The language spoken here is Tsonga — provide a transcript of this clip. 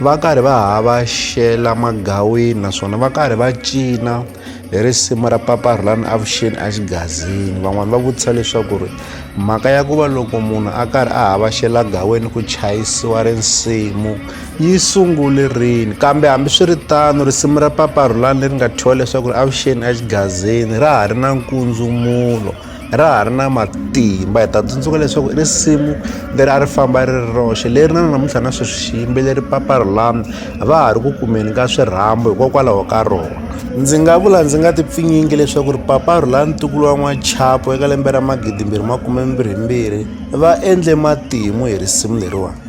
va karhi va havaxela magawini naswona va karhi va cina hi risimu ra papa rhulani avuxeni exigazini van'wani va vutisa leswaku ri mhaka ya ku va loko munhu a karhi a havaxela gaweni ku chayisiwa risimu yi sungule rini kambe hambiswiritano risimu ra papa rhulani leri nga thyiwa leswaku ri avuxeni exigazini ra ha ri na nkundzumulo ra ha ri na matimba hi ta tsundzuka leswaku i risimu leri a ri famba ri ri roxe leri na namuntlha na sweswi xiyimbeleri papa rolando a va ha ri ku kumeni ka swirhambo hikokwalaho ka rona ndzi nga vula ndzi nga tipfinyingi leswaku ri papa rolando ntukulu wa n'wachapo eka lembe ra magidimbirhi makume mbirhi mbirhi va endle matimu hi risimu leriwani